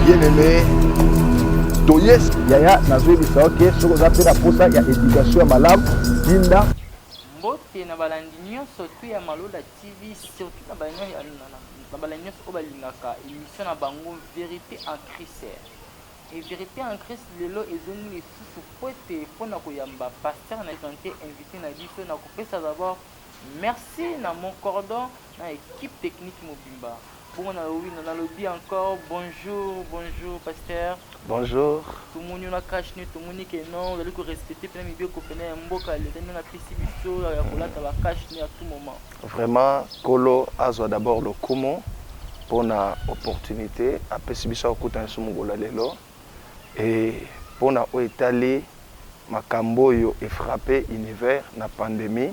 bien aimé toyes yaya nazoyebisa yo ke soki oza mpe na mposa ya éducation ya malamu tinda mbote na balandi nyonso tu ya malola tv surtout na balandi nyonso oyo balingaka émission na bango vérité en crise Et verite en Christ lelo ezongi lisusu pwete pona koyamba pasteur na sante invite na biso na kopesa d'abord merci na mon cordon na equipe technique mobimba bongo na lowino na lobi encore bonjour bonjour pasteur Bonjour. Tomoni yo na cash ne tomoni ke non ozali ko respecter pena mibeko pena ya mboka leta ndenge apesi biso ya kolata ba cash ne à tout moment. Vraiment kolo azwa d'abord lokumu pona opportunite apesi biso ya kokuta na biso mokolo ya lelo et pona oyo etali makambo oyo e frapper univers na pandemie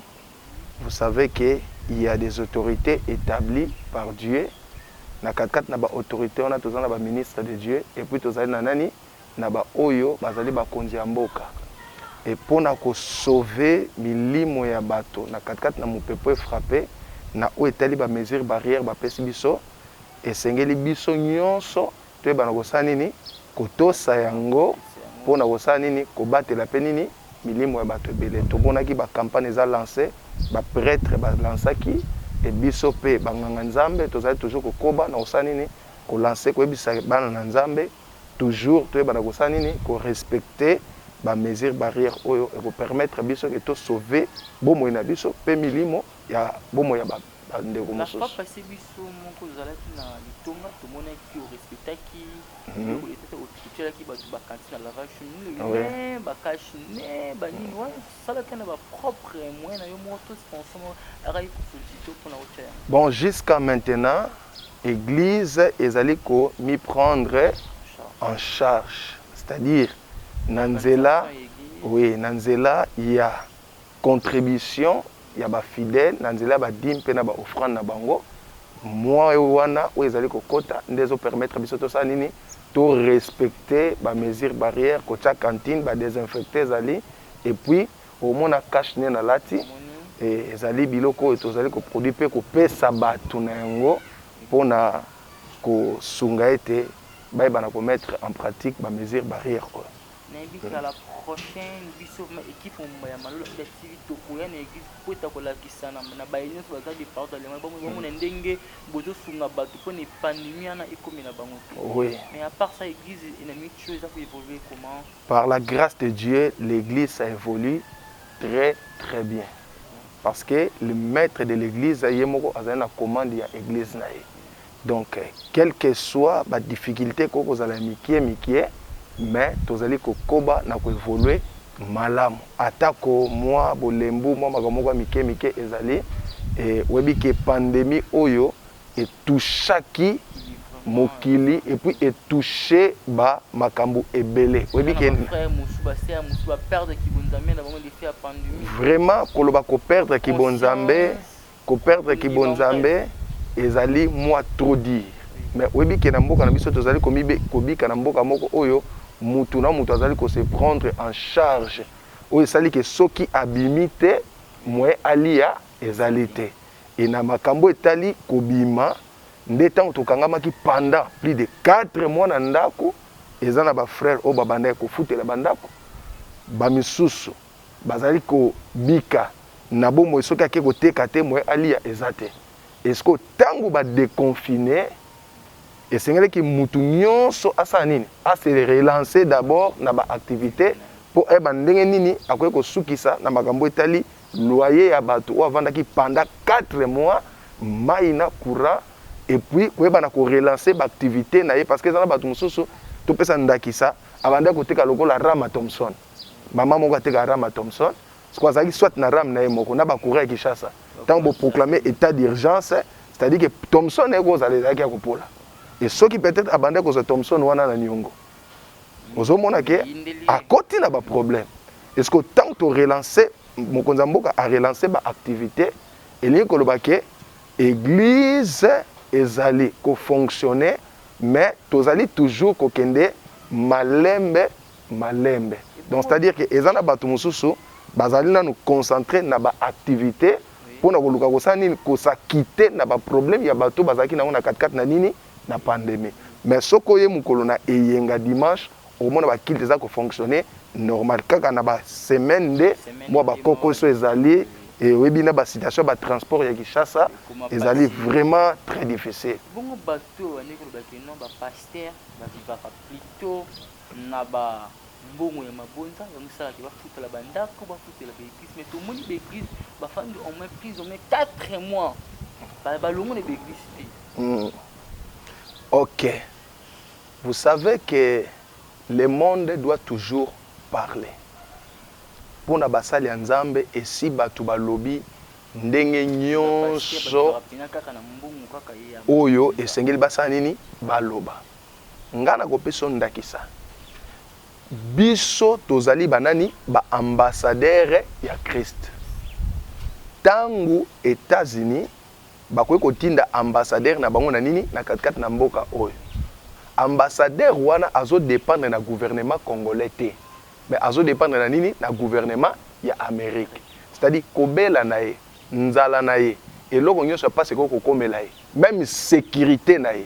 vous savez que il ya des autorites etablie par Dieu na kati kati na ba autorites wana toza na ba ministre de Dieu et puis tozali na nani na ba oyo bazali bakonzi ya mboka et pona ko sauver milimo ya bato na katikati na mopepe oyo e frapper na oyo etali ba mesures barrières bapesi biso, esengeli biso nionso toyebana kosala nini? kotosa yango pona kosala nini? kobatela pe nini? milimo ya bato ebele. Tomonaki ba campagnes eza lancer, ba pretres ba lansaki et biso pe ba nganga Nzambe tozali toujours kokoba na kosala nini? ko lancer, koyebisa bana na Nzambe. Toujours toyeba na kosala nini ko respecte ba mesure barrière oyo eko permettre biso ke to sauve bomoi na biso pe milimo ya bomoi ya ba ndeko mosusu. La fois passe biso moko tozalaki na litonga tomonaki ke o respectaki biloko d'etat te otielaki batu ba cantine na lavage sur nini olobi mais ba cash ne ba nini wana salaka na ba propre moyen nayo moko to sponsor moko ayaki ko solicite yo pona otia yango. Bon jusqu'à maintenant Eglise ezali ko mi prendre en charge c'est à dire na nzela oui na nzela ya contribution ya ba fidèles na nzela ya ba dime pe na ba offrande na bango mois wana oyo ezali kokota nde ezo permettre biso tosala nini to respecter ba mesures barrières kotia cantine ba desinfecter ezali et puis Omona cache nez na lati ezali biloko oyo tozali ko produit pe ko pesa batu na yango pona ko sunga ete ba yeba na ko mettre en pratique ba mesures barrières oyo. Na yebi kala la prochaine biso equipe mobimba ya Malola Media TV toko ya na eglise po eta ko lakisa na baye nionso baza de partout dans le monde ba mona ndenge bozo sunga batu pona epandemi wana ekomela bango te. Mais a part ça eglise enamini toujours eza ko evoluer comment? Par la grace de Dieu l'eglise ça evolue très très bien parce que le maitre de l'eglise ye moko azali na commande ya eglise na ye donc quelque soit ba difficultes ekoki kozala ya mikie mikie mais tozali kokoba na ko evolue malamu atako mwa bolembu mwa makambo moko ya mikie mikie ezali e oyebi ke pandemie oyo e touchaki mokili et puis e touche ba makambu ebele oyebi ke vraiment koloba ko perdre ki bonzambe ko perdre ki bonzambe ezali mua trop dire mais oyebi ke na mboka na biso tozali kobika na mboka moko oyo mutu na mutu azali ko se prendre en charge oyo esali ke soki abimi te moyen alia ezali te Et na makambo etali kobima nde tango tokangamaki pendant plus de quatre mois na ndako, eza na ba frères oyo babandaki kofutela ba ndako, ba misusu bazali kobika na bomoi soki ake koteka te moyen aliya eza te. Et sikoyo tango ba deconfiner esengelaki mutu nionso asala nini? A se relancer d'abord na ba activites mpo ayeba ndenge nini akoki kosukisa na makambo etali loyer ya batu oyo avandaki pendant quatre mois, mayi na courant et puis koyeba na ko relancer ba activites na ye parce que eza na batu mosusu topesa ndakisa abandaki koteka lokola Rama Thomson maman moko ateka Rama Thomson sikoyo azalaki soit na Rame na ye moko na ba courant ya Kinshasa ntango bo proclamer etat d'urgence c'est-à-dire que Thomson eko ozala ezalaki ya kopola et soki peut-être abandaki kozwa Thomson wana na niongo ozomona ke akoti na ba problème eske ntango to relance mokonzi ya mboka a relance ba activité elingi koloba ke eglise ezali kofonctionne mais tozali toujours kokende malembe malembe donc c'est à dire ke eza na bato mosusu bazali nanu concentre na ba activité mpo na koluka kosala nini kosakite na ba problème ya bato bazalaki na yango na katikati na nini na pandemie mais soki oye mukolo na eyenga dimanche okomona ba culte eza ko fonctionner normal kaka na ba semaine nde mua ba kokoso ezali et oyebi na ba situation ya ba transport ya Kinshasa ezali vraiment très difficile. Bongo batu oyo bandi koloba que non ba pasteur ba vivaka plutot na ba mbongo ya mabonza yango esala ke bafutela ba ndaku bafutela ba eglise mais tomoni ba eglise bafandi au moins plus au moins 4 mois balongo na ba eglise te mm. ok vous savez que le monde doit toujours parler mpo na basali ya nzambe esi bato balobi ndenge nyonso oyo esengeli basala nini baloba Nga na kopesa yo ndakisa. Biso tozali ba nani? Ba ambassadeurs ya Christ. Tangu Etats Unis bakoki kotinda ambassadeur na bango na nini? Na kati kati na mboka oyo. Ambassadeur wana azo dependre na gouvernement congolais te. Mais azo dependre na nini? Na gouvernement ya Amerique. C'est à dire kobela na ye, nzala na ye, eloko nionso ya pasi ekoki kokomela ye. Meme securite na ye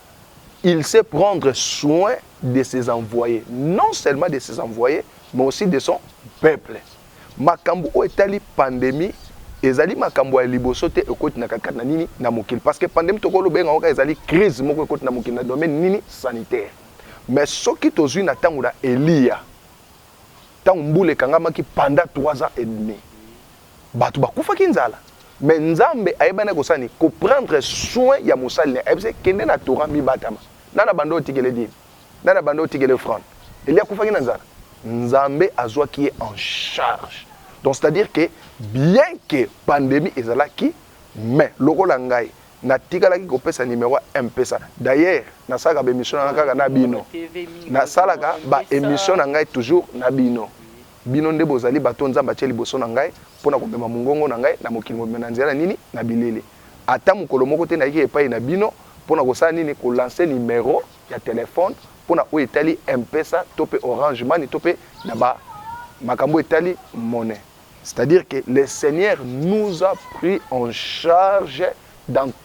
il sait prendre soin de ses envoyes, non seulement de ses envoyes, mais aussi de son peuple. Makambo oyo etali pandemie ezali makambo ya liboso te ekoti na kati na nini na mokili parce que pandemie tokoloba yango kaka ezali crise moko ekoti na mokili na domaine nini sanitaire mais soki tozwi na ntango na eliya ntango mbula ekangamaki pendant 3 ans et demi Batu bakufaki nzala mais nzambe ayebanaki kosala nini ko prendre soin ya mosali naye ayebisaki kende na torah mibatama nani abanda otikele dime nani abanda otikele offrande elie akufaki na nzala nzambe azwaki ye en charge donc c'est à dire que bien que pandemie ezalaki mais lokola ngai natikalaki kopesa numero ya mpesa d'ailleurs nasalaka ba emission na ngai kaka na bino nasalaka ba emission na ngai toujours na bino Bino nde bozali bato oyo Nzambe atye liboso na ngai mpo na komema mongongo na ngai na mokili mobimba. Na nzela na nini? Na bilele. Ata mokolo moko te nayaki epai na bino mpo na kosala nini? Ko lancer numero ya telephone mpo na oyo etali M-Pesa to mpe Orange Money to mpe na ba makambo oyo etali monnaie. C'est-à-dire que le Seigneur nous a pris en charge dans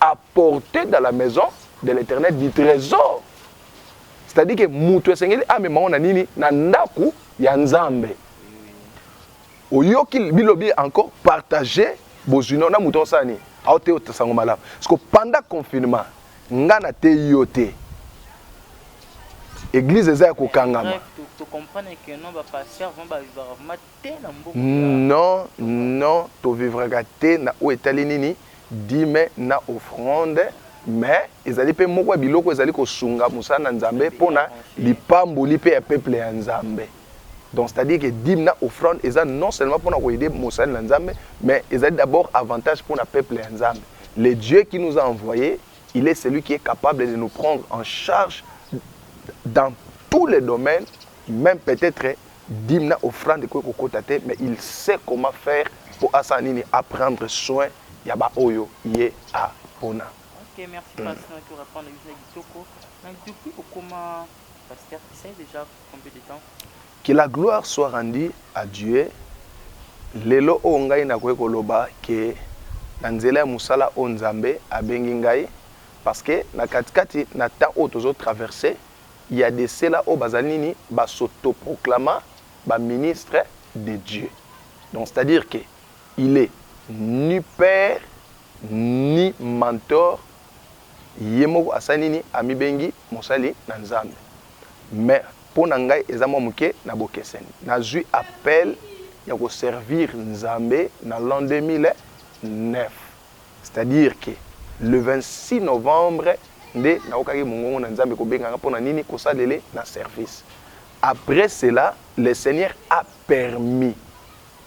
apporter dans la maison de l'Eternel du tresor c'est-à-dire que mutu esengeli amema ngo na nini na ndaku ya Nzambe oyoki bilobi encore partager bozwi na mutu osala nini aoteya otasango malamu parce que pendant confinement nga na te yo te église eza ya kokangama Non non to vivraka te na oyo etali nini? Dime na offrande mais ezali pe moko ya biloko ezali ko sunga mosala na Nzambe pona lipamboli pe ya peuple ya Nzambe. Donc c'est à dire que dime na offrande eza non seulement pona ko aider mosali na Nzambe mais ezali d'abord avantage pona peuple ya Nzambe. Le Dieu qui nous a envoye il est celui qui est capable de nous prendre en charge dans tous les domaines meme peut-etre Dime na offrande ekoki kokota te mais il sait comment faire po asala nini a prendre soin ya ba oyo ye a pona. Ok merci past na ki orepondre biso ya kitoko mais depuis okoma pasteur tu sais dejà combien de temps? Que la gloire soit rendue à Dieu lelo oyo ngai nakoki koloba que na nzela ya mosala oyo Nzambe abengi ngai parce que na kati kati na temps oyo tozo traverse ya de cela oyo bazali nini ba s'autoproclama ba ministre de Dieu donc c'est à dire que il est ni père ni mentor ye moko asali nini amibengi mosali na nzambe mais pona ngai eza mwa moke na bokeseni nazui appel ya ko servir nzambe na l'an 2009 C'est à dire que le 26 novembre nde nayokaki mongongo na Nzambe kobenga nga pona nini kosalele na service. Après cela le seigneur a permis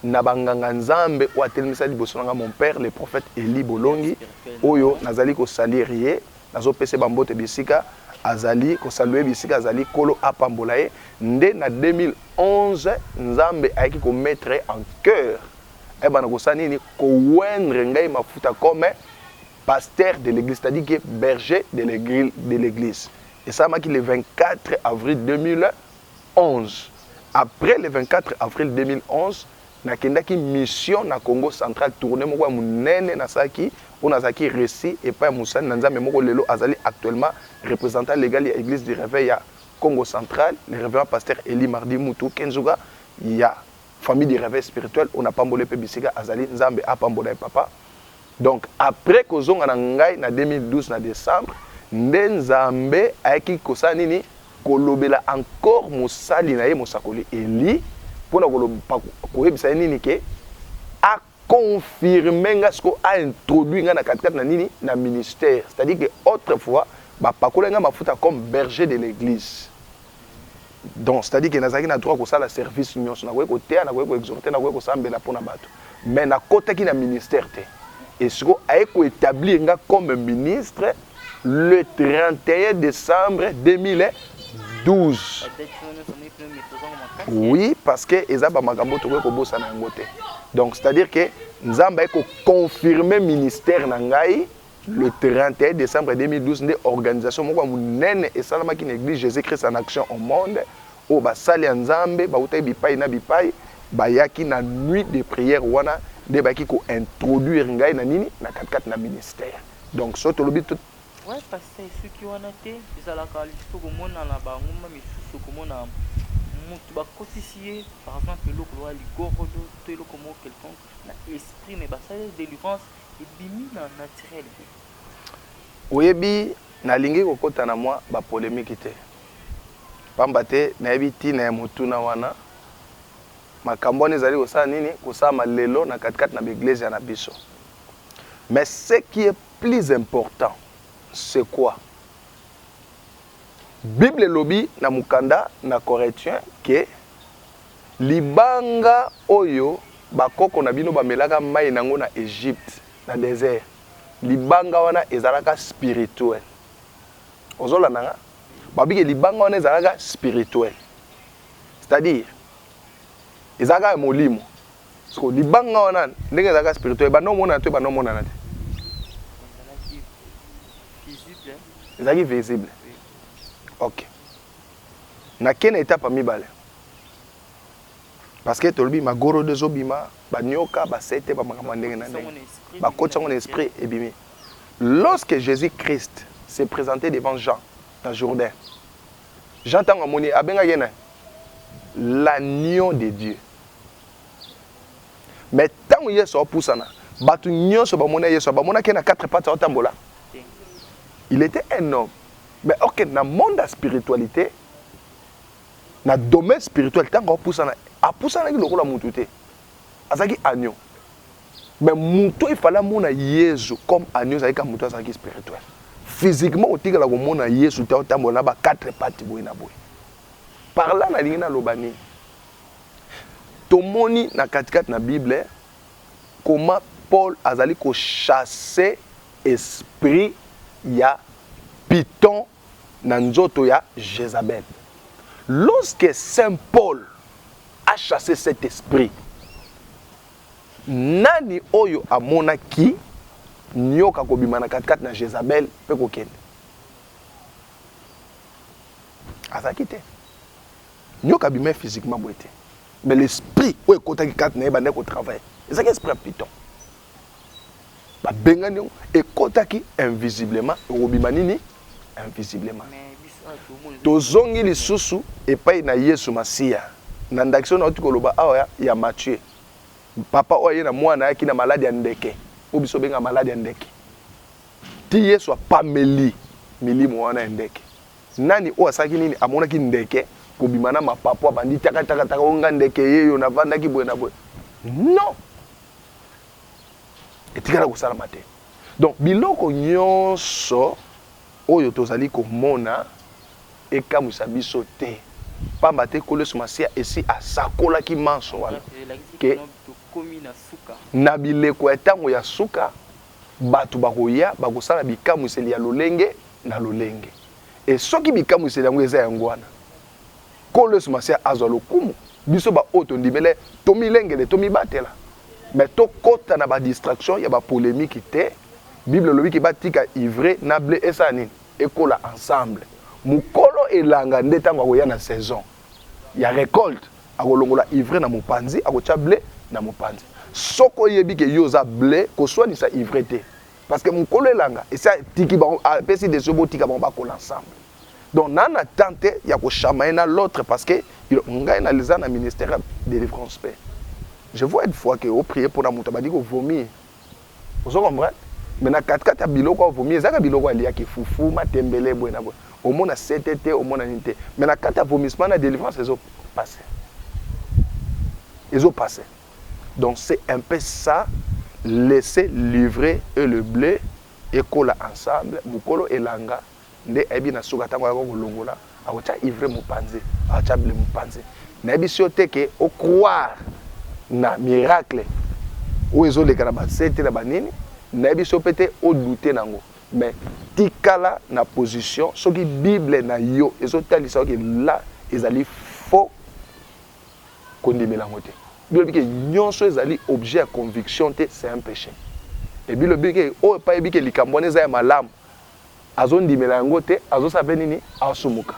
na ba nganga Nzambe oyo atelemisa liboso na nga mon père le prophète Elie Bolongi oyo nazali ko salir ye nazo pesa ye ba mbote bisika azali ko saluer bisika azali nkolo apambola ye nde na 2011 Nzambe ayaki ko mettre ye en cœur Aye banda kosala nini? Ko oindre ngai mafuta comme pasteur de l'eglise, c'est-à-dire que berger de l'eglise. Esalamaki le 24 avril 2011. Après le 24 avril 2011, nakendaki mission na Congo central, tournée moko ya munene nasalaki oyo nazalaki reçu epai ya mosali na Nzambe moko lelo azali actuellement représentant légal ya Église du Réveil ya Congo central, le révérend pasteur Elie Mardi Mutu Kenzuga ya Famille de reveil spirituel oyo na pamboli ye pe bisika azali nzambe apambola ye papa donc après kozonga na ngai na 2012 na decembre nde nzambe ayaki kosala nini kolobela encore mosali na ye mosakoli Elie pona koyebisa ye nini ke confirme nga sikoyo a introduit nga na katikati na nini na ministère c'est à dire que autre fois ba pakola nga mafuta comme berger de l'église donc c'est à dire que nazalaki na droit kosala service nyonso nakoki koteya nakoki koexhorte nakoki kosambela mpo na bato mais nakotaki na ministère te et sikoyo aye koétablir nga comme ministre le 31 decembre 2012 oui parce que eza ba makambo tokoki kobosana yango te donc c'est à dire que nzambe ayei koconfirme ministère na ngai le 31 décembre 2012 nde organisation moko ya monene esalamaki na église jésus christ en action au monde oyo basali ya nzambe bautaki bipai na bipai bayaki na nuit de prière wana nde bayaki kointroduire ngai na nini na katikati na ministère Donc soki tolobi to. Ouais pasta esuki wana te ezalaka lisusu okomona na ba ngomba misusu okomona mutu bakotisi ye par exemple eloko lokola ligorodo to eloko moko quelconque na esprit mais basali delivrance ebimi na naturel te oyebi nalingi kokota na mwa ba polemique te pamba te nayebi ntina ya motuna wana makambo wana ezali kosala nini kosalama lelo na katikati na ba eglezia na biso Mais ce qui est plus important c'est quoi? Bible elobi na mokanda na Corinthiens que libanga oyo ba koko na bino bamelaka mayi na yango na Egypte na desert libanga wana ezalaka spirituel. Ozo landa nga? Ba bike libanga wana ezalaka spirituel. C'est-à-dire ezalaka ya molimo. soko libanga wana ndenge ezalaka spirituel ebanda omonana to ebanda omonana te ezalaki visible ok nakei na etape ya mibale parce que tolobi magorodo ezobima banioka basete bamakambo ya ndenge na ndenge bakoti yango na esprit ebimi lorsque jésus christ se présente devant jean na jourdain jean ntango amoni abengaki ye na l'agneau de dieu Mais ntango Yesu aopusana, bato nyonso bamona Yesu, bamonaki ye na quatre pattes aotambola. Il était un homme. Mais ok, na monde ya spiritualité, na domaine spirituel, ntango aopusana, apusanaki lokola moto te. Azalaki agneau. Mais moto il fallait amona Yesu comme agneau, ezalaki kaka moto azalaki spirituel. Physiquement, otikala komona Yesu te aotambola na ba quatre pattes boye na boye. Par là, nalingi naloba nini? Tomoni na katikati na bible comment Paul azali ko chasse esprit ya piton na nzoto ya Jezabel. Lorsque saint Paul a chasse cet esprit, nani oyo amonaki nioka kobima na katikati na Jezabel pe kokende? Azalaki te. Nioka abimaki physiquement boye te mais l'esprit oyo ekotaki kati na ye ebandaki kotravaille ezalaki esprit ya piton babengani yango ekotaki invisiblement ekobima nini invisiblement tozongi lisusu epai na yesu masiya na ndakisa oyo nauti koloba awa ya, ya mathieu papa oyo aye na mwana ayaki na maladi ya ndeke oyo biso obenga maladi ya ndeke ti yesu apameli milimo wana ya ndeke Nani oyo asalaki nini? Amonaki ndeke kobima na mapapu, abandi taka taka taka, o nga ndeke yeyo, navandaki boye na boye. Non! Etikala kosalama te. Donc biloko nyonso oyo tozali komona ekamwisa biso te pamba te nkolo yesu masiya esi asakolaki manso wana ke na bileko ya ntango ya suka Bato bakoya, bakosala bikamwiseli ya lolenge na lolenge. E soki bikamwiseli yango eza yango wana, Nkolo Yesu Masiya azwa lokumu, biso baoyo tondimela Ye, tomilengele, tomibatela. Mais tokota na ba distractions ya ba polemiques te. Bible elobi ke batika ivraie na ble esala nini? Ekola ensemble. Mokolo elanga nde tango akoya na saison. ya recolte akolongola ivre na mopanzi akotia ble na mopanzi soki oyebi ke yo oza ble koswanisa ivre te parce que mokolo elanga esi atiki bango apesi desio botika bango bakola ensemble donc na na temps te ya koshama ye na l'autre parce que ngai naliza na ministère ya délivrance mpe je vois une fois ke oprie mpona moto abandi kovomir ozo comprendre mais na katikati ya biloko oyo vomi ezaka biloko aliaki fufu matembele boye na boye omona sete te omona nini te mais na kati ya vomissement na délivrance ezo passe ezo passe donc c'est un peu ça laisser livrer et le blé ekola ensemble mokolo elanga nde ayebi na suka tango ayaka kolongola akotia ivre mupanze akotia ble mupanze nayebisi yo te ke o croire na miracle oyo ezoleka na bansete na banini nayebisi yo pe te o doute nango mais tikala na position soki bible na yo ezotalisa yo ke la ezali faux kondimela yango te bilobi ke nyonso ezali objet ya conviction te c'est un peche et bilobi ke oyo pa yebi ke likambo wana eza ya malamu azo ndimela yango te azo sala pe nini asumuka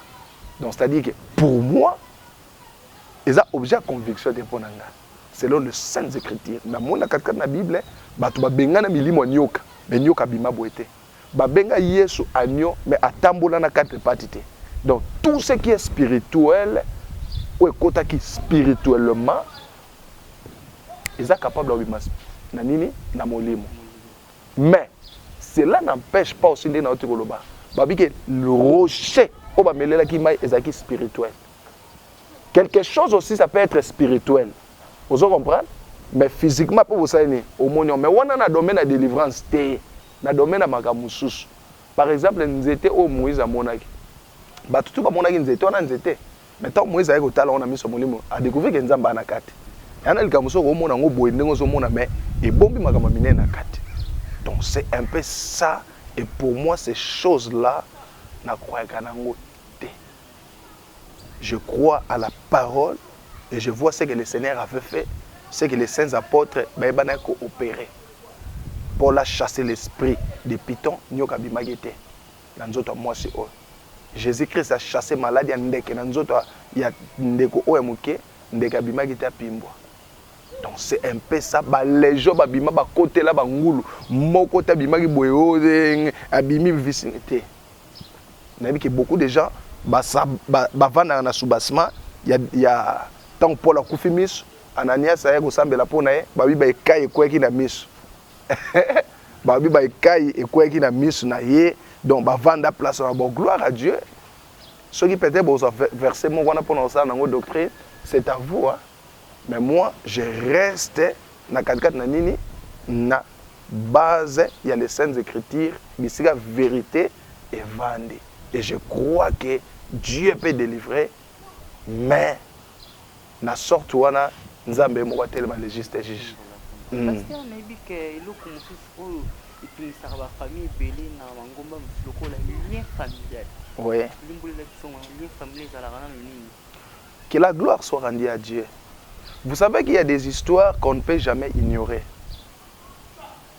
donc c'est à dire que pour moi eza objet ya conviction te mpo na nga selon le saintes écritures namoni na katikati na bible bato babenga na milimo ya nioka me nioka abima boye te babenga yesu agno me atambola na quatre pati te donc tout ce qui est spirituel oyo ekotaki spirituellement eza capable ya obima na nini na molimo Mais cela n'empeche pas aussi nde nauti koloba babi ke le rocher oyo bamelelaki mai ezalaki spirituel quelque chose aussi ça peut être spirituel ozo comprendre mais physiquement mpe bosali nini omoni yango mais wana na domaine ya delivrance te na domaine ya makambo mosusu par exemple nzete oyo moïse amonaki bato tu bamonaki nzete wana nzete Mais tango Moïse aye kotala yango na miso ya molimo, a decouvrir que Nzambe aza na kati. Eya nde likambo mosusu, okomona yango boye ndenge ozo mona mais ebombi makambo ya minene na kati. Donc c'est un peu ça et pour moi ces choses là na croyaka na yango te. Je crois à la parole et je vois ce que le Seigneur avait fait, ce que les saints apôtres bayebanaki ko operer. Paul a chasser l'esprit de Python, nioka abimaki te. na nzoto ya mwasi oyo. Jesus Christ a chasser maladi ya ndeke na nzoto ya ndeko oyo ya moke, ndeke abimaki te apimbwa. Donc c'est un peu ça ba legion ba bima ba kotela ba ngulu moko ta bimaki boye ozeng abimi visini te nayebi ke beaucoup de gens ba ba vanda na soubassement ya ya tant Paul akufi miso Ananias aye kosambela pona ye ba biba ekai ekweki na miso babi ba ekai ekweyaki na misu na ye donc bavanda place na bon gloire à dieu soki peut-être bozwa verset moko wana mpona kosala nango doctrine c'est à vous hein? mais moi je reste na katikati na nini na base ya les saintes écritures bisika vérité evandi et je crois que dieu peut délivrer mais Na sorte wana nzambe ye moko atelema le juste juge humm. Pasteur nayebi que eloko mususu oyo etungisaka ba famille ebele na mangomba misusu lokola lien familial Oui. Limbolela biso yango na lien familial ezalaka nanu nini? Que la gloire soit rendue à Dieu vous savez qu'il ya des histoires qu'on ne peut jamais ignorer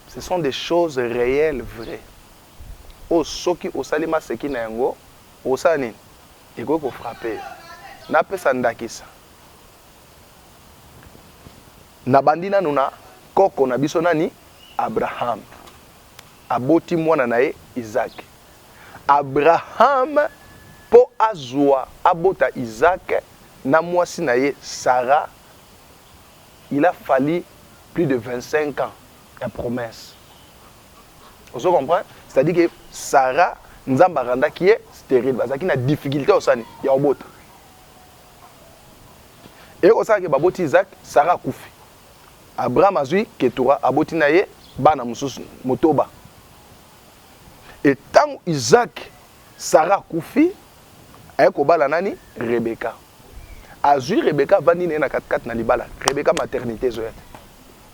ce sont des choses reelles vraies oyo soki osali maseki na yango Okosala nini? Ekoki ko frapper yo. Napesa ndakisa, Nabandi nanu na koko na biso nani? Abraham. Aboti mwana na ye Isaac. Abraham mpo azua, abota Isaac na mwasi na ye Sarah, il a fallu plus de 25 ans ya promesse. ozo comprendre c'est à dire que Sarah nzambe arandaki ye sterile bazalaki na difficulté osani ya obota eye kosala ke baboti Isaac Sarah akufi Abraham azui ketura aboti na ye bana mosusu motoba e ntango Isaac Sarah akufi aye kobala nani Rebecca azui Rebecca avandi na ye na katikati na libala Rebecca maternité ezoya te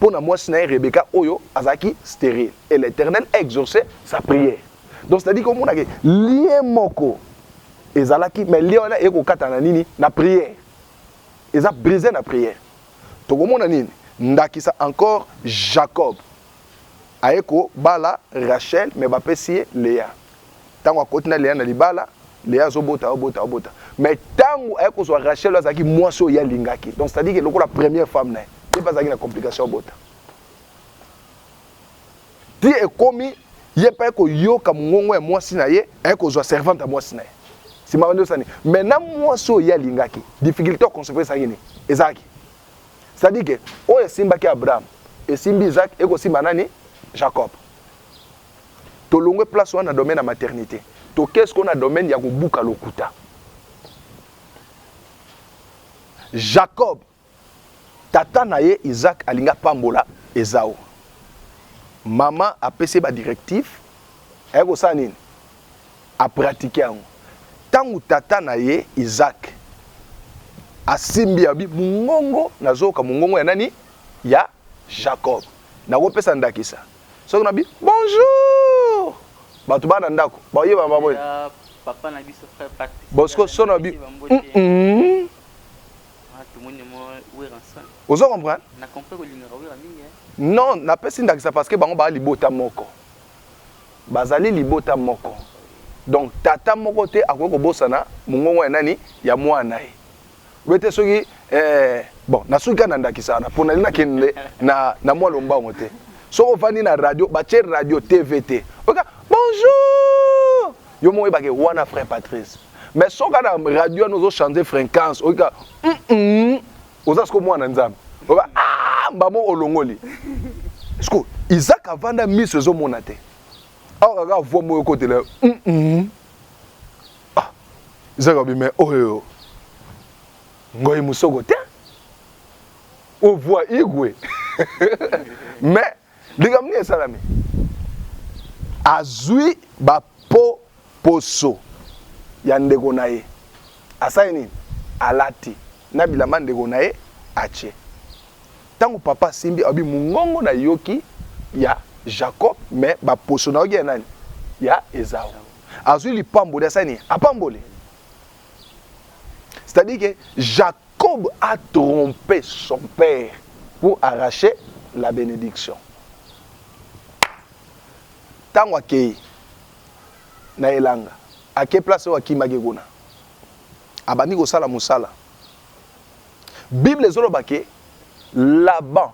pona mwasi na ye Rebecca oyo azalaki sterile et l'Eternel a exauce sa prière. Donc c'est à dire komona ke lien moko ezalaki mais lien wana ekokata na nini na prière eza brise na prière tokomona nini ndakisa encore Jacob Aye ko bala Rachel mais ba pesi ye Lea. Tango akoti na Lea na libala, Lea azo bota, azo bota, azo bota. Mais tango aye ko zwa Rachel oyo azalaki mwasi oyo ye alingaki. Donc c'est à dire que lokola première femme na ye, ye pe azalaki na complication abota. Ti ekomi ye pe aye ko yoka mongongo ya mwasi na ye, aye ko zwa servante ya mwasi na ye. Sima ba ndosani. Mais na mwasi oyo ye alingaki, difficulté ya concevoir ezalaki nini? Ezalaki. C'est-à-dire que oyo esimbaki Abraham, esimbi Isaac, ekosimba nani? Jacob. Tolongwe place wana na domaine ya maternité. Tokei sikoyo na domaine ya kobuka lokuta. Jacob, tata na ye Isaac alingi apambola Ezau. Mama apesi ye ba directive, aye kosala nini? a pratiquer yango tangu tata na ye Isaac asimbi abi mungongo nazoyoka mungongo ya nani ya Jacob nakopesa ndakisa soki nabi bonjour bato bana ndako baoyeba baboye papa na biso frère Patrice Bosco sono bi mm -mm. Ah, tout le monde mo wera ensemble ozo comprendre na comprendre ko lingaka wera mingi non napesi ndakisa parce que bango ba libota moko Bazali libota moko. Donc tata moko te akoki kobosana mongongo ya nani? Ya mwana na ye. Boye te soki eh, bon nasuki kaka na ndakisa wana mpo nalingi nakende na, na mwa lombango te. Soki ofandi na radio, batye radio TV te, oyoka bonjour, yo moko oyebake wana frère Patrice. Mais soki kaka na radio wana ozo changer fréquence, oyoka mm, mm, oza siko mwana nzambe oba ah, mbamo olongoli siko isaac avanda miso ezomona te awa kaka avua moyo ekotela mm -mm. ah, isaac abi me oyo ngoi mosoko te ovua igwe mais Likambo nini esalami? Azwi ba po poso ya ndeko na ye, asali nini? Alati na bilamba ndeko na ye atie. Tango papa asimbi alobi mongongo na yoki ya Jacob mais ba poso na yoki ya nani? Ya Esau. Azwi lipamboli asali nini? Apamboli. C'est-à-dire que Jacob Kob a trompe son père pour arracher la benediction. Tango akeyi na elanga, ake place oyo akimaki kuna. Abandi kosala mosala. Bible ezoloba ke Laban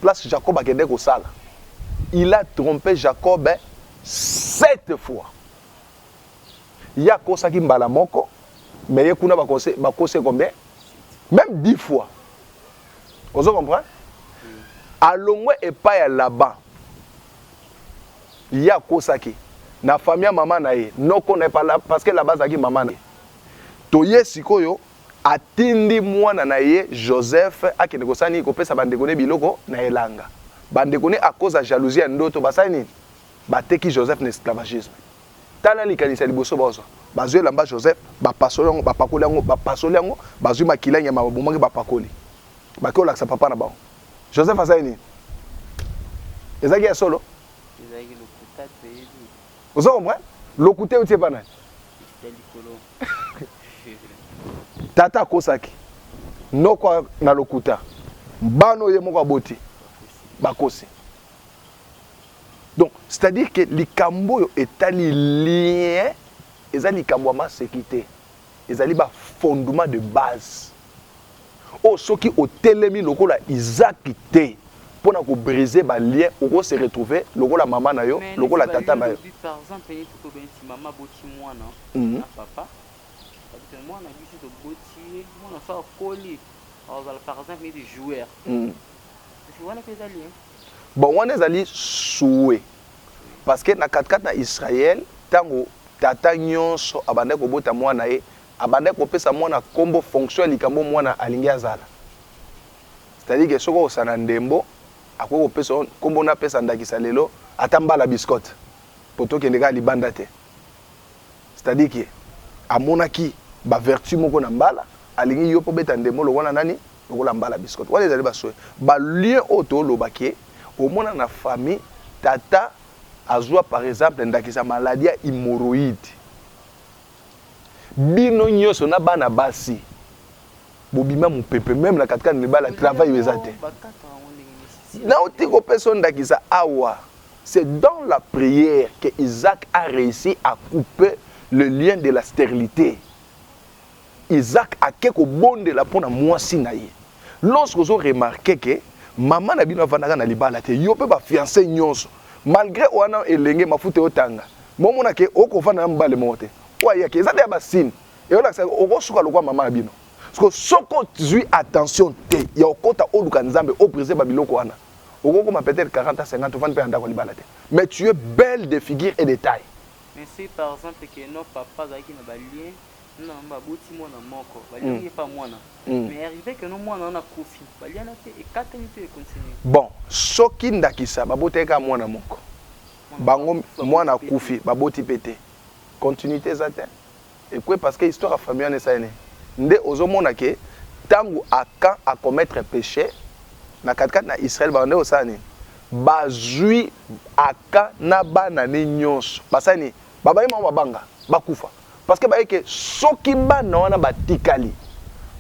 place Jacob akende kosala, il a trompe Jacob sept fois. ye akosaki mbala moko mais ye kuna bakose bakose combien même 10 fois ozo comprendre alongwe epai ya laban ye akosaki na famille ya mama na ye noko na ye parce que laba azalaki mama na ye toye sikoyo atindi mwana na ye joseph akende kosala nini kopesa bandeko ne biloko na elanga bandeko ne akoza jalousie ya ndoto basali nini bateki joseph na esclavagisme Tala likanisi ya liboso bazwa. Bazwi elamba Joseph, bapasoli yango, bapakoli yango, bapasoli yango, bazwi makila ya nyama, babomaki, bapakoli. Bakei kolakisa papa na bango. Joseph asali nini? Ezalaki ya solo? Ozo comprendre? Lokuta euti epa nani? Tata akosaki noko na lokuta, bana oyo ye moko aboti bakosi. Donc c'est à dire que likambo oyo etali lien eza likambo ya maseki te ezali ba fondement de base oyo oh, soki otelemi lokola izaki te mpo na kobriser balien oko se retrouver lokola mama na yo lokola tata na yo mwana biso toboti ye mwana so akoli azala par exemple neti joueur wana mpe eza lien Bon, wana ezali souhait parce que na kati kati na Israël tango tata nionso abandaki kobota mwana na ye, abandaki kopesa mwana kombo fonction ya likambo oyo mwana alingi azala. C'est à dire que soki okosana ndembo akoki kopesa yo kombo, napesa ndakisa lelo ata mbala biscotte po tokende kaka libanda te. C'est à dire que amonaki ba vertu moko na mbala alingi yo mpo beta ndembo lokola nani lokola mbala biscotte wana ezali basoe ba lien oyo toloba ke omona na famille tata azwa par exemple ndakisa maladie ya hemorroïde bino nyonso na bana basi bobima mopepe meme na katikati na libala travail oyo eza te nauti kopesa ndakisa awa C'est dans la prière que Isaac a reussi à couper le lien de la sterilite. Isaac ake kobondela mpo na mwasi na ye. Lorsque ozo remarquer que mama na bino avandaka na libala te, yo mpe ba fiances nyonso, malgre oa nanu elenge, mafuta eotanga, mais omona que okovanda na mobali moko te. Oyo ayaki, eza dejà ba signes eolakisa que okosuka lokola mama na bino. Sikoyo soki ozui attention te ya kokota oluka Nzambe, o briser ba biloko wana. okokoma peut etre 40 ans 50 ovandi pe na ndaku ya libala te mais tu es belle de figure et de taille. Mais soki par exemple que non papa azalaki na ba liens na maman ba boti mwana moko ba liaki ye pa mwana mais arrive que non mwana wana akufi ba liana te ekatani to e continue. Bon soki ndakisa ba botaki kaka mwana moko bango mwana akufi ba boti pe te continuite eza te. Ekwe parce que histoire ya famille wana esali nini? Nde ozo mona que tangu Acan a commettre peche na kati kati na Israël ba bandaki kosala nini? Ba zui Acan na bana ne nionso ba sali nini? Ba baye bango ba banga ba kufa parce que ba yebi que soki bana wana ba tikali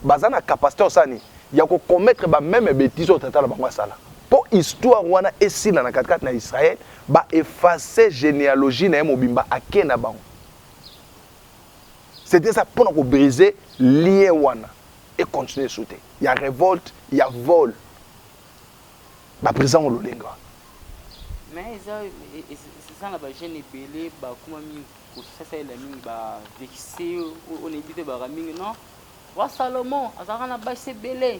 baza na capacite ya kosala nini? Ya ko commettre ba meme betise oyo tata na bango asala. Po histoire wana esila na kati kati na Israël ba effacer genealogie na ye mobimba ake na bango. c'est eza mpo na kobrise lien wana econtinue esu te ya révolte ya vol baprésident ololenga mais eza eza na bajeune ebele bakoma mingi kosasalela mingi bavexe oyo nayebi te baka mingi non wa salomon azalaka na basi ebele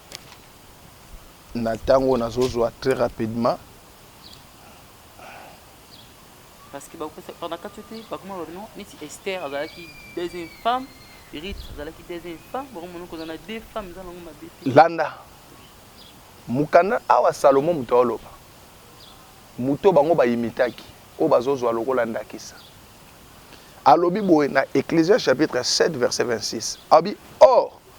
na tango nazo zwa très rapidement. Parce que bakopesa epai na kati oyo te bakoma baloba bino neti Esther azalaki deuxième femme Ruth azalaki deuxième femme bakomona kozala na deux femmes eza nango mabe te landa mokanda awa Salomon moto aoloba moto bango bayimitaki oyo bazozwa lokola ndakisa alobi boye na Ecclésias chapitre 7 verset 26 alobi or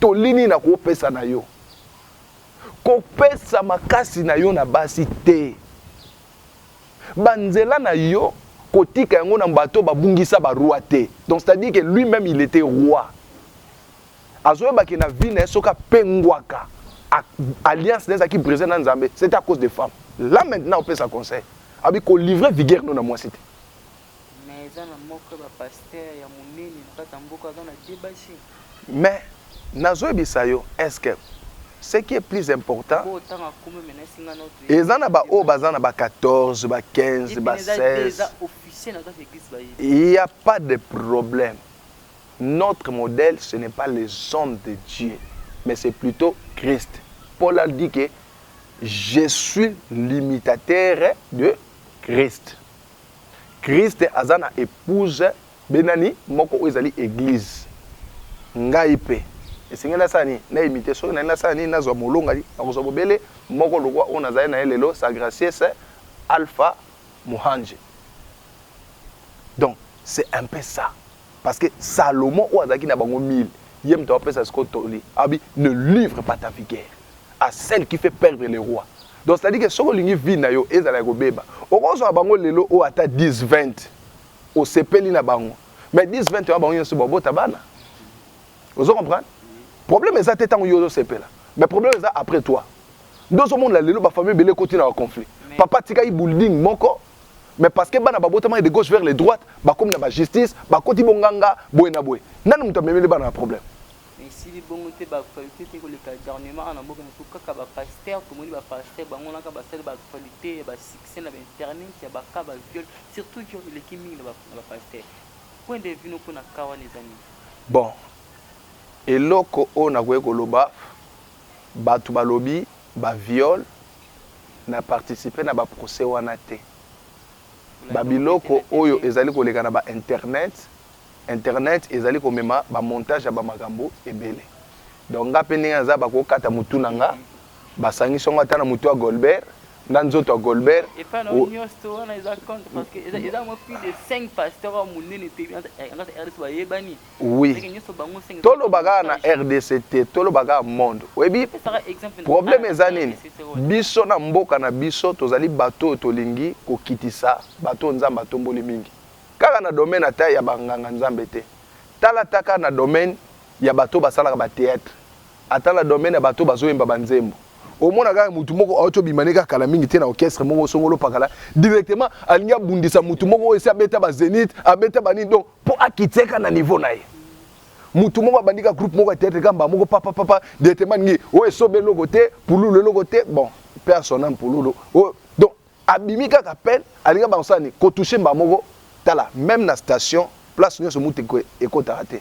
Toli nini nakopesa na yo? Kopesa makasi na yo na basi te. Banzela na yo kotika yango na bato babungisa ba roi te. Donc c'est-à-dire que lui-même il était roi. Azoyeba ke na vie na ye soki apengwaka alliance na ezalaki brise na Nzambe, c'était à cause des femmes. Là maintenant opesa conseil. Abi ko livrer vigueur no na mwasi te. Mais eza na moko ya ba pasteur ya munene na kati ya mboka aza na deba te. Mais nazo yebisa yo est que ce qui est plus important eza na ba oyo baza na ba 14 ba 15 ba 16 il ya pas de problème notre modèle ce n'est pas les hommes de Dieu mais c'est plutôt Christ Paul a dit que je suis l'imitateur de Christ Christ aza na epouse be nani moko oyo ezali eglise ngai pe esengeli nasala nini na imite soki nalingi nasala nini nazwa molongani nakozwa bobele moko lokwa oyo nazali na ye lelo sa gracies alpha muhangi donc c'est un peu ça Parce que Salomon oyo azalaki na bango 1000, ye moto apesa sikoyo toli. Abi ne livre pas ta vigueur à celle qui fait perdre le roi. Donc c'est-à-dire que soki olingi vie na yo ezala ya kobeba, okozwa bango lelo oyo ata 10 20 osepeli na bango. Mais 10 20 oyo bango nyonso babota bana. Ozo comprendre? Problème eza te tango yo ozo sepela. Mais problème eza après toi. Ndozo mona lelo ba famille bele koti na conflit. Papa tika i building moko mais parce que bana babotamaki de gauche vers le droite bakomi na ba justice bakoti bonganga boye na boye nani moto amemeli bana na problème esili bongo te ba actualité te koleka garnement awa na mboka na biso kaka ba pasteur tomoni ba pasteur bango naka basali ba actualité ya ba succès na ba internet ya ba cas ba viol surtout viol eleki mingi na ba na ba pasteur point de vue no mpona cas wana eza nini bon eloko oyo nakoki koloba bato balobi Ba viol na participe na ba procès wana te ba biloko oyo ezali koleka na ba internet internet ezali komema ba montage ya ba makambo ebele donc nga pe ndenge naza bakoki kokata mutu na nga ba sangisi yango ata na mutu ya golbert na nzoto ya golbert epa na yo niosto wana eza compte parce que eza eza mwa plus de 5 pasteur oyo munene pe na rdc bayebani Oui. Toloba kaka na RDC te, toloba kaka monde. Oyebi problème eza nini? Biso na mboka na biso tozali bato oyo tolingi kokitisa bato oyo Nzambe atomboli mingi. Kaka na domaine ata ya banganga Nzambe te. Tala ata kaka na domaine ya bato oyo basalaka ba theatre. Ata na domaine ya bato oyo bazoyemba ba nzembo. Omona kaka mutu moko auti obima ne kaka kala mingi te na orchestre moko songolo pakala directement alingi abundisa mutu moko oyo esi abeta ba zenith, abeta ba nini donc Po akitia ka na niveau na ye. Mutu moko abandi ka groupe moko ya theatre ka mbala moko papa papa directement ngi oyo esobe eloko te pululu eloko te bon père son âme pululu oyo donc abimi kaka appel alinga ba kosala ni ko toucher mbala moko tala même na station place nionso mutu ekotaka te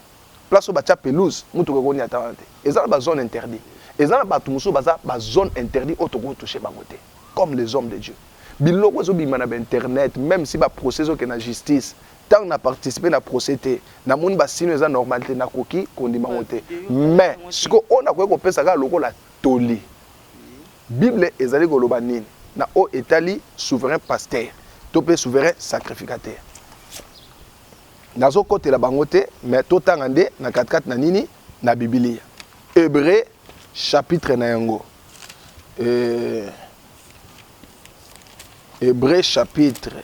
place oyo batia pelouse mutuka ekoni ata wana te eza na ba zone interdit eza na bato mosusu baza ba zone interdit oyo tokoki toucher bango te comme les hommes de Dieu biloko ezobima na ba internet même si ba procès ezokende na justice Tango na participer na procès te na moni ba sinon eza normal te na koki kondima ngo te mais siko oyo na koki kopesa kaka lokola toli bible ezali koloba nini na oyo etali souverain pasteur to pe souverain sacrificateur nazo kotela bango te mais to tanga nde na katikati na nini na bibilia hebreu chapitre na yango euh, hebreu chapitre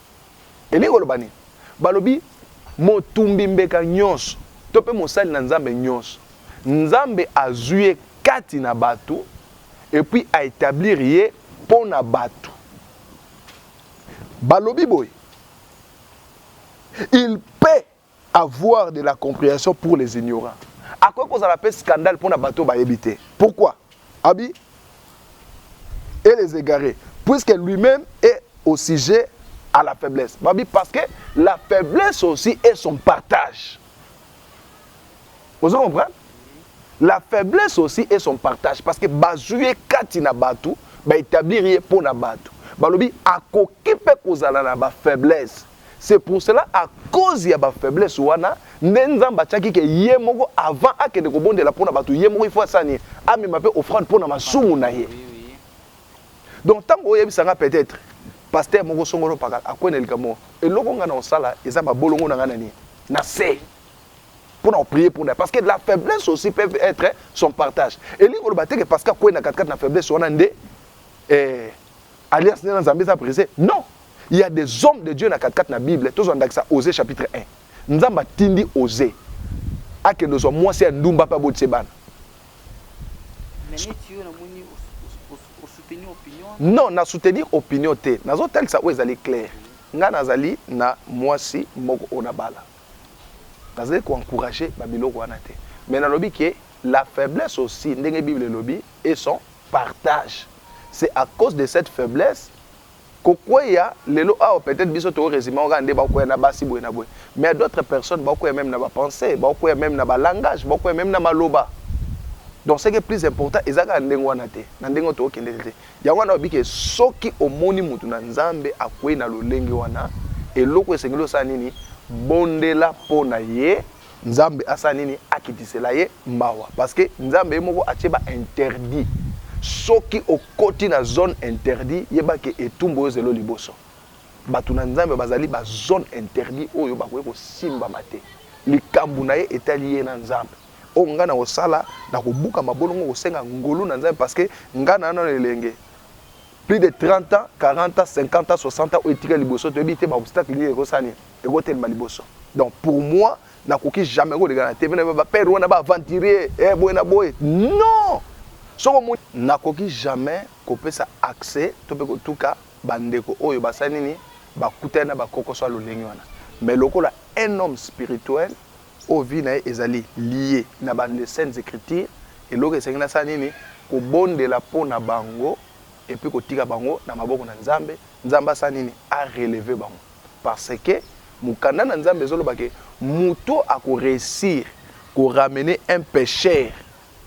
Elingi koloba nini? Balobi, Motumbi mbeka nyonso, to pe mosali na Nzambe nyonso, Nzambe azwi ye kati na batu et puis a etablir ye po na batu. Balobi boye, Il peut Avoir de la comprehension pour les ignorants. Akoki kozala pe scandale pona bato bayebi te. Pourquoi? Abi et les égarés puisque lui-même est au sujet à la faiblesse. Babi parce que la faiblesse aussi est son partage. Vous comprenez? La faiblesse aussi est son partage parce que bazuye kati na bato ba établir ye pona bato. Balobi akoki pe kozala na ba faiblesse. C'est pour cela à cause ya ba faiblesse wana nde Nzambe atiaki ke ye moko avant akende kobondela mpo na bato ye moko il faut asala nini amema mpe offrande mpo na masumu na ye donc ntango oyebisa nga peut-être pasteur moko songolo pakala akwei na likambo moko eloko ngai na kosala eza mabolongo na ngai na nini na se mpo na koprie mpo na parce que la faiblesse aussi peut être son partage elingi koloba te ke parce que akwei na katikati na faiblesse wana nde eh, alliance nde na nzambe eza brise non Il ya des hommes de Dieu na kati kati na bible tozwa ndakisa Osee chapitre 1 Nzambe atindi Osee akende ozwa mwasi ya ndumba mpe abotisa ye bana. Non na soutenir opinion te nazotalisa oyo ezali claire ngai nazali na mwasi moko oyo nabala nazali koencourage babiloko wana te mais nalobi ke la faiblesse aussi ndenge bible elobi et son partage c'est à cause de cette faiblesse Ko kweya lelo awa peut etre biso to resume yango kaka nde bao kweya na basi boye na boye mais ya d'autres personnes bao kweya meme na ba pensees, bao kweya meme na ba langages, bao kweya meme na maloba. Donc ce qui est plus important eza kaka ndenge wana te, na ndenge oyo toko kende te. Yango wana olobi que soki omoni mutu na Nzambe akweyi na lolenge wana, eloko esengeli osala nini? Bondela po na ye. Nzambe asala nini akitisela ye mawa parce que Nzambe ye moko atie ba interdit soki okoti na zone interdit yeba ke etumbu oyo zelo liboso batu na Nzambe bazali ba zone interdit oyo bakoki kosimbama te likambu na ye etali ye na Nzambe oyo nga nakosala nakobuka mabolongo kosenga ngolu na Nzambe parce que nga na nanu elenge plus de 30 ans 40 ans 50 ans 60 ans oyo etikali liboso toyebi te ba obstacle nini ekosala nini Ekotelema liboso donc pour moi nakoki jamais koleka na TV na ba père wana ba aventurier eh boye na boye non soko mo nakoki jamais kopesa accès to pe kotuka ba ndeko oyo basali nini bakutani na ba kokoso ya lolenge wana mais lokola un homme spirituel oyo vie na ye ezali lie na ba les saintes ecritures eloko esengi nasala nini kobondela mpo na bango epuis kotika bango na maboko na Nzambe Nzambe asala nini a relever bango Parce que mukanda na nzambe ezo loba que mutu oyo ako reussir ko ramener un pecheur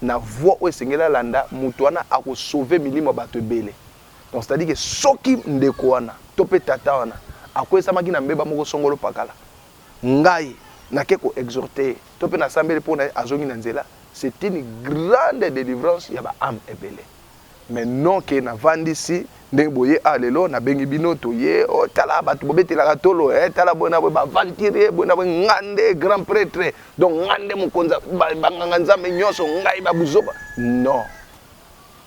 na voie oyo esengeli alanda mutu wana ako sauver milimo ya batu ebele. Donc c'est à dire que soki ndeko wana to pe tata wana akwesamaki na mbeba moko songolo pakala, ngai nake ko exhorter ye to pe na sambeli pona ye azongi na nzela, c'est une grande delivrance ya ba ames ebele. Mais non que na vandisi ndenge boye awa lelo na bengi bino toye oh tala batu bobetelaka tolo eh tala boye na boye ba aventurier boye na boye nga nde grand pretre donc nga nde mokonza ba, ba nganga nzambe nyonso ngai ba buzoba non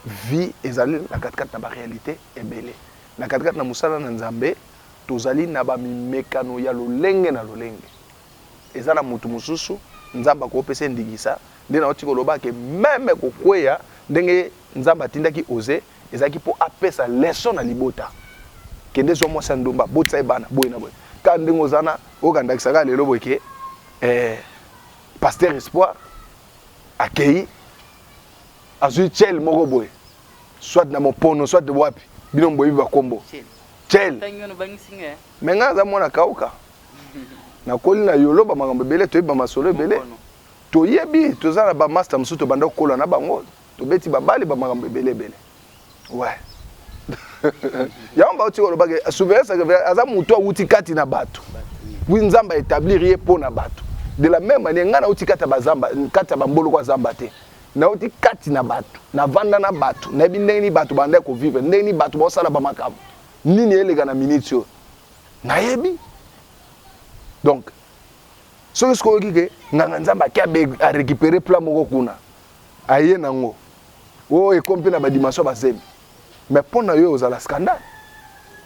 vie ezali na katikati na ba réalité ebele na katikati na mosala na nzambe tozali na ba mimekano ya lolenge na lolenge eza na mutu mususu nzambe ako pesa ye ndingisa nde nauti koloba ke meme kokweya ndenge nzambe atindaki ose ezalaki po apesa leçon na libota kende zwa mwasi ya ndumba botisa ye bana boye na boye kaka ndenge oza na oyoka ndakisa kaka lelo boye ke eh, pasteur espoir akei azwi chel moko boye soit na mopono soit wapi bino boyebi bakombo chel me ngai aza mwana kauka nakoli na yolo ba makambo ebele toyebi ba masolo ebele toyebi toza na ba master mosusu tobanda kokola na bango tobeti babale ba makambo ebele ebele ouais yango bauti koloba ke surveillance aza moto awuti kati na bato wi nzambe aetablir ye mpo na bato de la même manière ngai nauti kati ya bazamba kati ya bamboloko ya zamba te nauti kati na bato navanda na bato nayebi ndenge nini bato bandai kovivre ndenge nini bato baosala bamakambo nini eleka na miniti oyo nayebi donc soki soki oyoki ke nganga nzambe ake arécupere plat moko kuna aye nango o oh, ekomi mpe na badimension bazemi mais mpo na yo ozala scandale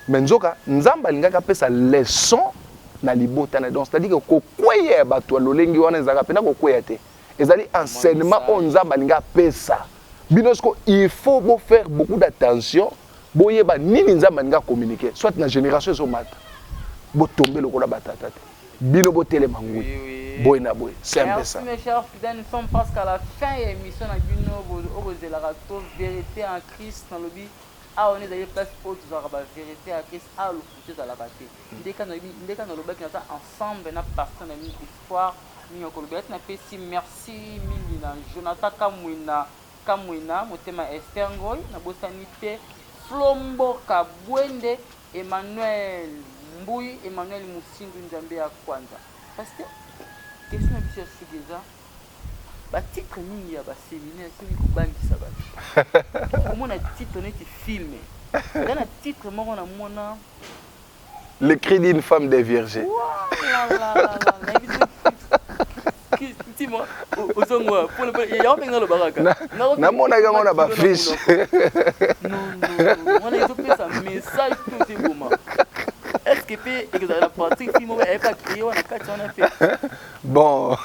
mais nzoka nzambe alingaki apesa leçon na libota na donc c'est-à-dire kokweya ya bato ya lolenge wana ezalaka mpena kokweya te ezali enseignement oyo nzambe alingi apesa bino siko il faut bofaire beaucoup d'attention Boyeba nini nzambe alingi a communique soit na generation ezo mata bo tombe lokola ba tata te bino bo telema ngwi boye na boye c'est un peu ça. Merci mes chers fidèles nous sommes presque à la fin ya emission na bino oyo bozelaka to verite en Christ na lobi awa nde ezali place oyo tozalaka ba verite ya Christ awa lokuta ezalaka te ndeka na lobi ndeka na lobaki naza ensemble na pasteur na bino histoire mingi ya kolobela ti napesi merci mingi na Jonathan Kamwina Kamwena motema Esther ngoy na bosani te flo mboka buende Emmanuel mbuyi Emmanuel musindu nzambe ya kwanza pasteur question na biso ya suka eza ba titre mingi ya ba seminaire soki kobangisa batu komona titre neti film eza na titre moko na mona le cri d'une femme de vierge Ouah, la, la, la, la, la, namonaki yango na bafiche bon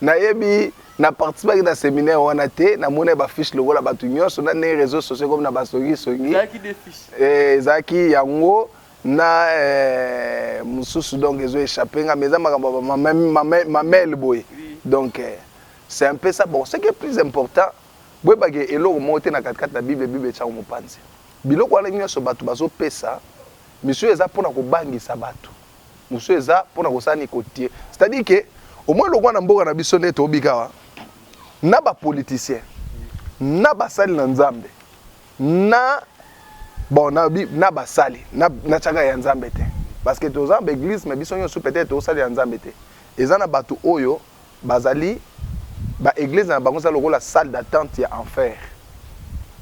nayebi na participaki na séminaire wana te namoni bafiche lokola bato nyonso na ndenge réseau sociaux ekomi na basongisongi ezalaki eh, yango na eh, mususu donc ezo échapper nga mais eza makambo ba mamel boye donc eh, c'est un peu ça bon ce qui est plus important boyeba ke eloko moko te na katikati na bible bible etiango mopanzi biloko wana nyonso bato bazopesa misu eza mpona kobangisa bato mosusu eza mpona kosala ni kotie c'est-à-dire ke omoi lokwa na mboka na biso nde tobikawa na bapoliticien na basali na nzambe na bon na bi na basali na na chaka ya nzambe te parce que toza ba église mais biso nyosu peut-être tosali ya nzambe te eza na batu oyo bazali ba église na bango za lokola salle d'attente ya enfer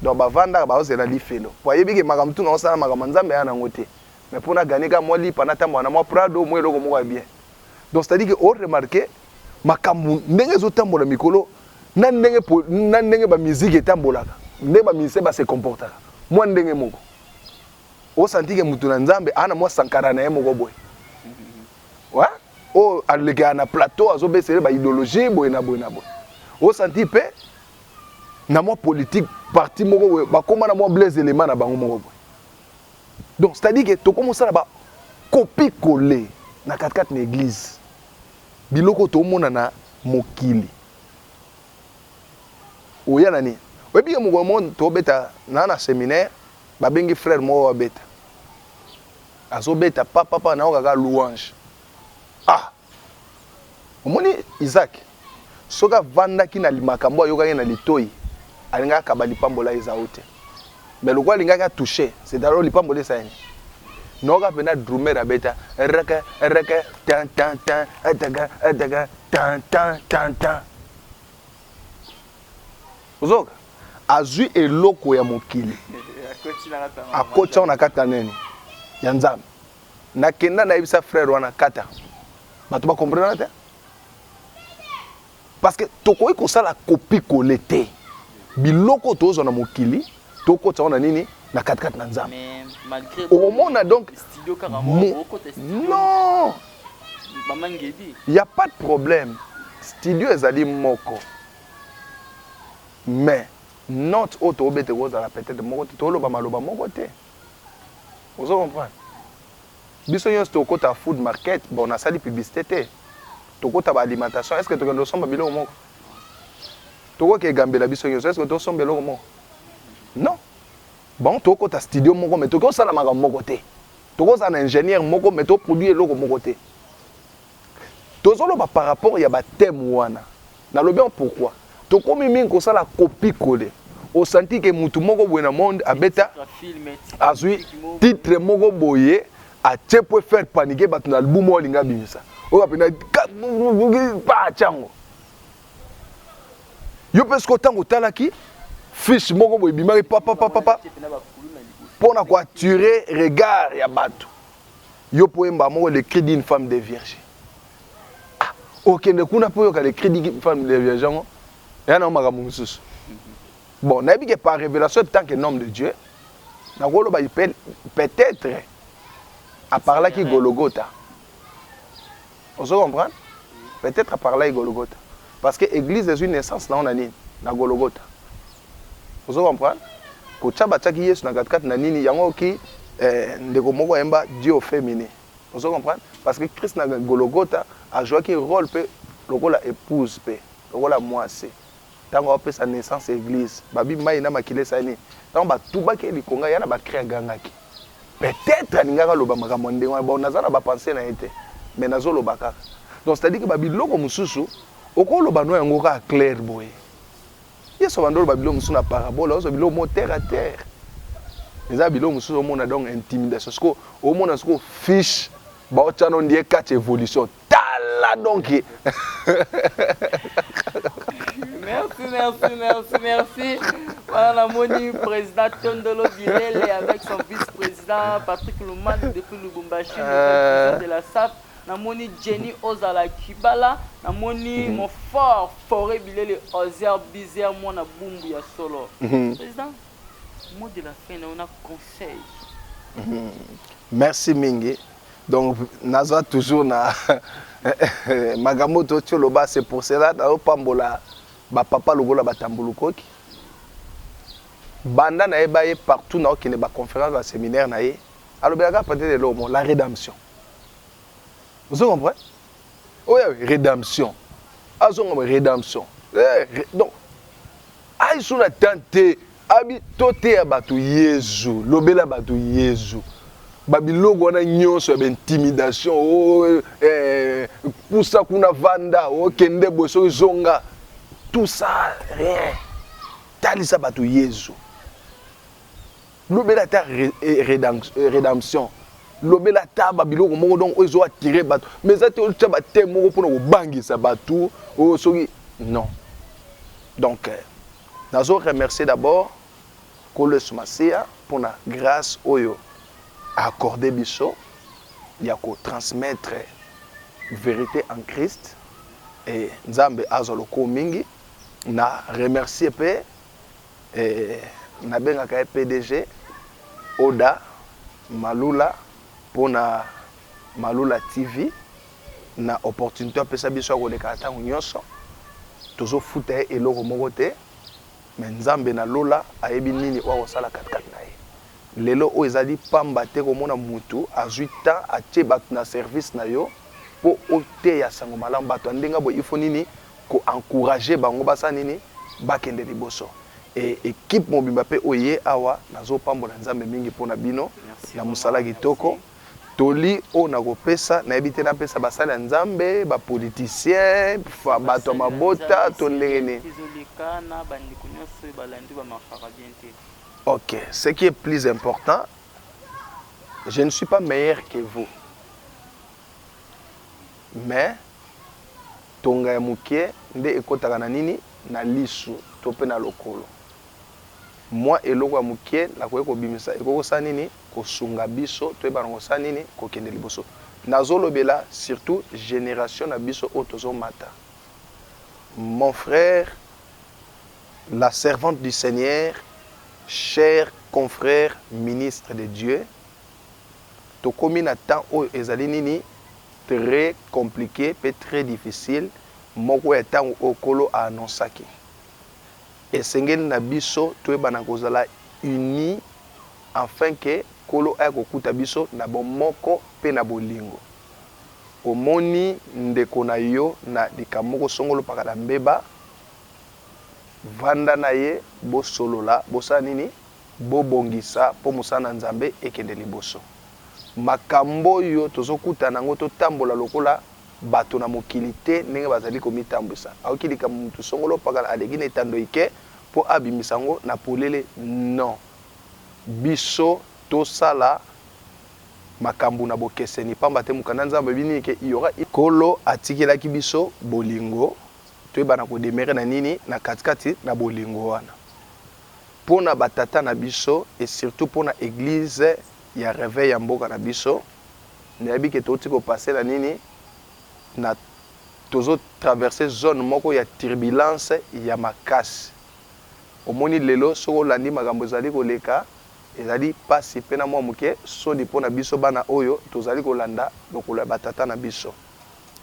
donc bavandaka baozela lifelo po ayebi ke makambo tuna osala makambo nzambe ya nango te mais pona gane ka mwa lipa na tambola na mwa prado mwa eloko moko ya bien donc c'est à dire que o remarquer makambo ndenge ezotambola mikolo na ndenge na ndenge ba musique etambolaka nde ba musicien ba se comportaka mwa ndenge moko osantike motu na nzambe ana mwa sankara na ye moko boye wa oyo alekaka na plateau azobesele ba idéologie boye na boye na boye osanti mpe na mwa politique parti moko boye bakóma na mwa blaise elema na bango moko boye donc c'est à dire ke tokómi osala ba copie colle na katikati na église Biloko tomona na mokili. Oya na nini? Oyebi ke mokolo moko tobeta na na seminaire, babengi frère moko abeta. Azobeta pa pa pa nayoka kaka louange. Ah! Omoni Isaac? Soki avandaki na limakambo oyo ayokaki na litoyi, alingaki akaba lipambola eza o te. Mais lokola alingaki a toucher, c'est alors lipambola esa ene. Nayoka pena drummer abeta reke reke tin tin tin eteke eteke tin tin tin tin. Ozoka? Azui eloko ya mokili. Akoti yango na kati na nini? Ya Nzambe. Nakenda nayebisa frère wana kata. Bato ba comprena te. parce que tokoki kosala kopi kole te biloko tozwa na mokili tokotisa yango na nini na katikati na nzambe okomona donc non ya pas de problème studio ezali moko mais note oyo tobete kozala peut-être moko te toloba maloba moko te ozo comprendre Biso nionso toko kota food market bon na sali publicite te toko kota ba alimentation est ce que tokende ko somba biloko moko toko ke gambela biso nionso est ce que to somba eloko moko non bon toko kota studio moko mais toko sala makambo moko te toko za na ingénieur moko mais to produit eloko moko te Tozoloba par rapport ya ba thème wana. Nalobi yango pourquoi? Tokomi mingi kosala copie coller. O sentir que mutu moko boye na monde abeta azui titre moko boye atie pour faire paniquer batu na album oyo alinga bimisa. Oyo apenda pa chango. Yo pe siko tango talaki fiche moko boye bimaki papa papa papa pona ko attirer regard ya batu. Yo po yemba moko le cri d'une femme de vierge. Ah, okende kuna po yoka le cri d'une femme de vierge yango. Ya na makambo mosusu. Bon, nayebi que par révélation en tant que homme de Dieu, nakoloba peut-être a parlaki Golgotha. Ozo comprendre? Peut etre par là Golgotha. Parce que eglise ezui naissance na yo na nini? Na Golgotha. Ozo comprendre? Kotia batiaki Yesu na kati kati na nini? Yango ki eh, ndeko moko ayemba Dieu au feminin. Ozo comprendre? Parce que Christ na Golgotha a jouaki role pe lokola épouse pe lokola mwasi. Tango azo pesa naissance eglise babi mayi na makila esali nini? Tango ba tubaki ye likonga ya na ba cris agangaki. Peut etre alingaki aloba makambo ya ndenge wana bon naza na ba pensees na ye te mais nazo loba kaka. Donc c'est à dire que ba biloko mususu oko loba no yango kaka claire boye. Yesu abanda oloba biloko mususu na parabole azo biloko moko terre à terre. Eza biloko mususu omona donc intimidation sikoyo omona sikoyo fiche bao tia no ndie catch evolution tala donc merci merci merci merci wana namoni président tondolo bilele avec son vice président patrick luman depuis lubumbashi euh. de la sap namoni jenny ozala kibala namoni mhm. mon fort foret bilele ozer bizer mwana bumbu ya solo mhm. président mot de la fin na yo na conseil mhm. merci mingi Donc naza toujours na makambo to tio loba c'est pour cela na pambola ba papa lokola ba tambulukoki banda na ye ba ye partout na okende ba conférence ba séminaire na ye alobela ka peut-être lomo la rédemption vous comprenez oyo oh, eh, redemption azonga ah, redemption eh, re, donc ayesu na temps te abi toteya bato yezu lobela bato yezu babiloko wana nyonso ya baintimidation o oh, eh, pusa kuna vanda okende oh, boye soki zonga tout ça rien talisa bato yezu lobela ata redemption lobela ata babiloko moko donc oyo ezo attire bato mais eza te otya bateme moko mpona kobangisa bato oyo oh, soki non donc euh, nazo remercier d'abord nkolo yesu masiya mpona grâce oyo accorde biso ya kotransmettre vérité en christ e nzambe azwa lokumu mingi na remercier mpe Eeh na bengaka ye pdg Oda malula pona malula TV na opportunite apesa biso ya koleka tango nionso tozo futa ye eloko moko te mais nzambe na lola ayebi nini oyo akosala kati kati na ye. Lelo oyo ezali pamba te komona mutu azui temps atie batu na service na yo po oteya sango malamu. Batu ya ndenge boye il faut nini ko encourager bango basala nini bakende liboso et equipe mobimba pe oyo eye awa nazo pambola Nzambe mingi pona bino na musala kitoko. Toli oyo nako pesa nayebi te napesa basali ya Nzambe, ba politiciens, batu ya mabota to ndenge nini? Ok ce qui est plus important je ne suis pas meilleur que vous mais tonga ya mokie nde ekotaka na nini na lisu to mpe na lokolo mwa eloko ya moke nakoki kobimisa ekoki kosala nini kosunga biso toyeba na kosala nini kokende liboso nazolobela surtout génération na biso oyo tozomata mon frère La servante du seigneur cher confrere ministre de Dieu tokomi na temps oyo ezali nini tres complique pe tres difficile moko ya tango oyo kolo a annonsaki esengeli na biso toyeba na kozala uni enfin que kolo aya kokuta biso na bomoko pe na bolingo omoni ndeko na yo na likambo moko songolo pakala mbeba Vanda na ye, bosolola, bosala nini? Bobongisa po mosala na Nzambe ekende liboso. Makambo oyo tozokutana na yango, totambola lokola bato na mokili te ndenge bazali komitambwisa. Aoki likambo moto songolo pakala aleki na etando ike po abimisa yango na polele, non. Biso tosala makambo na bokeseni, pamba te Mokanda ya Nzambe alobi nini? Ke, il y aura une. Nkolo atikelaki biso bolingo. Toyeba na ko demeurer na nini na kati kati na bolingo wana pona ba tata na biso et surtout pona eglise ya reveil ya mboka na biso. Nayebi que touti ko passer na nini na tozo traverser zone moko ya turbulence ya makasi. Omoni lelo soki olandi makambo ezali koleka ezali pasi pe na mua muke soni pona biso bana oyo tozali kolanda lokolo ya ba tata na biso.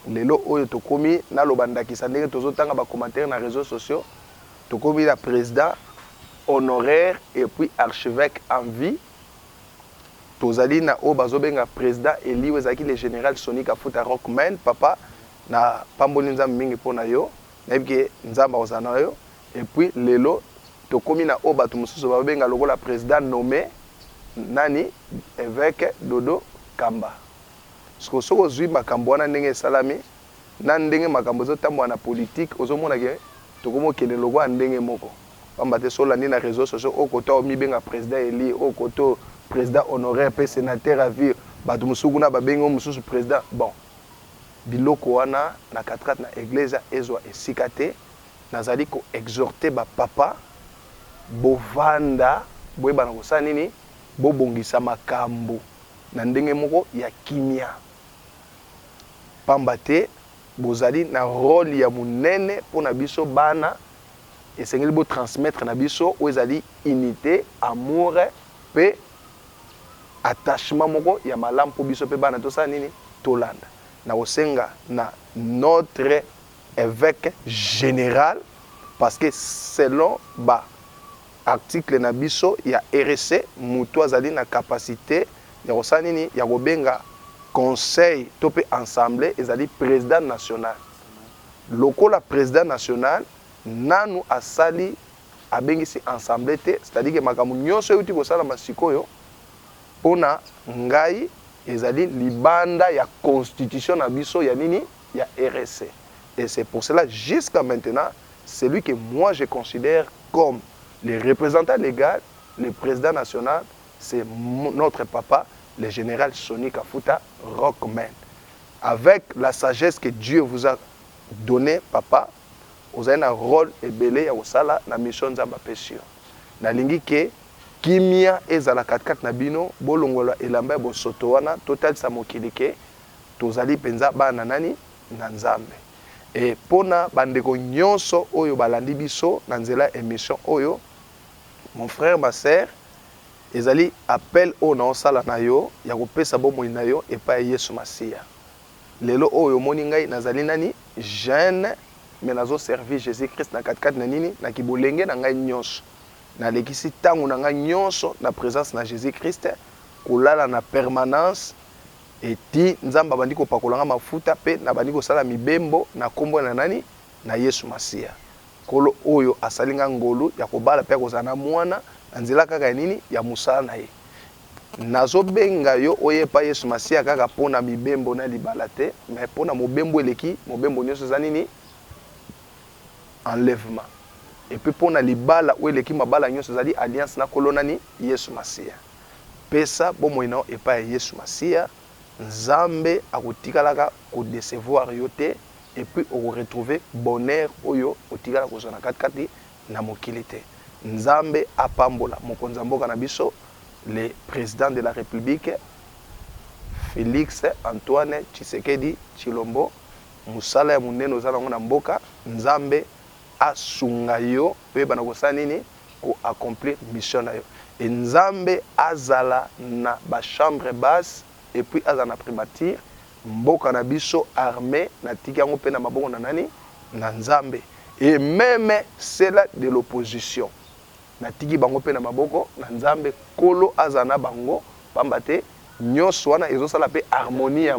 Lelo oyo tokomi, naloba ndakisa ndenge tozotanga ba commentaires na reseaux sociaux, tokomi na President honoraire et puis Archeveque en vie, tozali na oyo bazobenga President elu ezalaki le General Sonny Kafuta Rock Man, Papa napamboli Nzambe mingi mpo na yo, nayebi que Nzambe akozala na yo, et puis lelo tokomi na oyo batu mosusu babenga lokola President nomme, nani? Eveque Dodo Kamba. Sikoyo soki ozui makambo wana ndenge esalami na ndenge makambo ezo tambola na politique ozo mona ke tokomi kokende lokola ndenge moko. Pamba te soki olandi na reseaux sociaux oyo kote omi benga president elu oyo kote oyo president honoraire pe senateur à vie batu mosusu kuna ba bengi yo mosusu president bon biloko wana na katrat na eglesia ezua esika te. Nazali ko exhorter ba papa bovanda boyeba na kosala nini bobongisa makambo. na ndenge moko ya kimia, mpamba te bozali na role ya monene mpo na biso bana, esengeli bo transmettre na biso oyo ezali unite, amour mpe attachement moko ya malamu mpo biso mpe bana tosala nini? Tolanda. Nakosenga na notre eveque general parce que selon ba Article na biso ya REC mutu azali na capacite ya kosala nini? Ya kobenga conseil to pe ensemblee ezali president national. Lokola president national nanu asali abengisi ensemblee te c'est à dire que makambo nionso ewuti kosalama sikoyo pona ngai ezali libanda ya constitution na biso ya nini? ya RSC et c'est pour cela jusqu'à maintenant celui que moi je considère comme le representant legal, le president national c'est notre papa le general Sony Kafuta Rockman avec la sagesse que Dieu vous a donne papa ozali na role ebele ya kosala na mission Nzambe apesi yo nalingi que kimia ezala katikati na bino bolongola elamba ya bosoto wana totalisa mokili que Tozali mpenza bana na nani? Na Nzambe. Et mpo na ba ndeko nionso oyo balandi biso na nzela ya emission oyo, mon frère, ma sœur, ezali appel oyo naosala na yo ya kopesa bomoi na yo epai ya Yesu Masiya. Lelo oyo omoni ngai nazali nani? Jeune, mais nazo servir Jesus Christ na kati kati na nini? Na kibolenge na ngai nionso. Nalekisi tango na ngai nionso na presence na Jesus Christ, kolala na permanence Et ti Nzambe abandi kopakola nga mafuta pe nabandi kosala mibembo na kombo na nani? Na Yesu Masiya. Nkolo oyo asali nga ngolu ya kobala pe ya kozala na mwana na nzela kaka ya nini? Ya mosala na ye. Nazo benga yo oya epai Yesu Masiya kaka po na mibembo na libala te mais po na mobembo eleki mobembo nionso eza nini? Enlèvement. Et puis po na libala oyo eleki mabala nionso ezali alliance na Nkolo nani? Yesu Masiya. Pesa bomoi na yo epai ya Yesu Masiya, Nzambe akotikalaka ko decevoir yo te et puis oko retrouver bonheur oyo otikala kozwa na kati kati na mokili te. Nzambe apambola mokonzi ya mboka na biso le President de la Republique Felix Antoine Tshisekedi Tshilombo, mosala ya monene oza na yango na mboka, Nzambe asunga yo oyeba na kosala nini? ko accomplir mission nayo et nzambe azala na ba chambre basse et puis azala na primature mboka na biso arme na tiki yango pe na maboko na nani na nzambe et meme cela de l'opposition na tiki bango pe na maboko na nzambe kolo azala na bango pamba te nionso wana ezo sala pe harmonie ya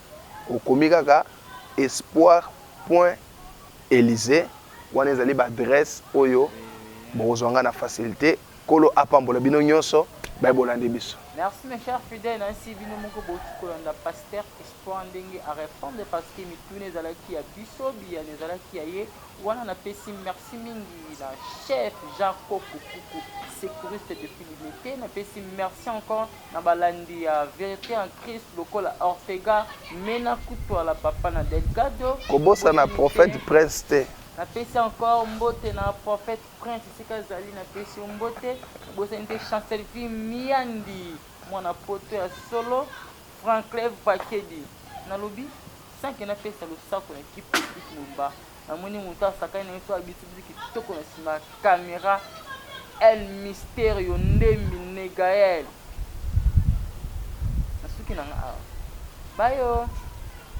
Okomi kaka espoir point elysee wana ezali ba adresse oyo bokozua nga na facilte nkolo apambola bino nionso baye bolandi biso. Merci mes chers fidèles na yesi bino moko bowuti kolanda pasteur espoir ndenge a repondre parce que mituna ezalaki ya biso biyano ezalaki ya ye wana na pesi merci mingi na chef jean koko kuku secouriste depuis limete na pesi merci encore Na balandi ya Verite en Christ lokola Ortega, Mena, Kutuala, Papa na Delgado, Kobosana boyebi Prophète te. Prince te. Napesi encore mbote na Prophète Prince esika azali, napesi yo mbote. Nabosani te Chancelvie Miandi, mwana poto ya solo, Franklin Vakedi. Nalobi sans que napesa losako na ki Petit Mumba. Namoni mutu asakani na biso abitibizi kitoko na sima ya camera El Misterio Ndembi Ne Gael nasuki nanga awa bayo.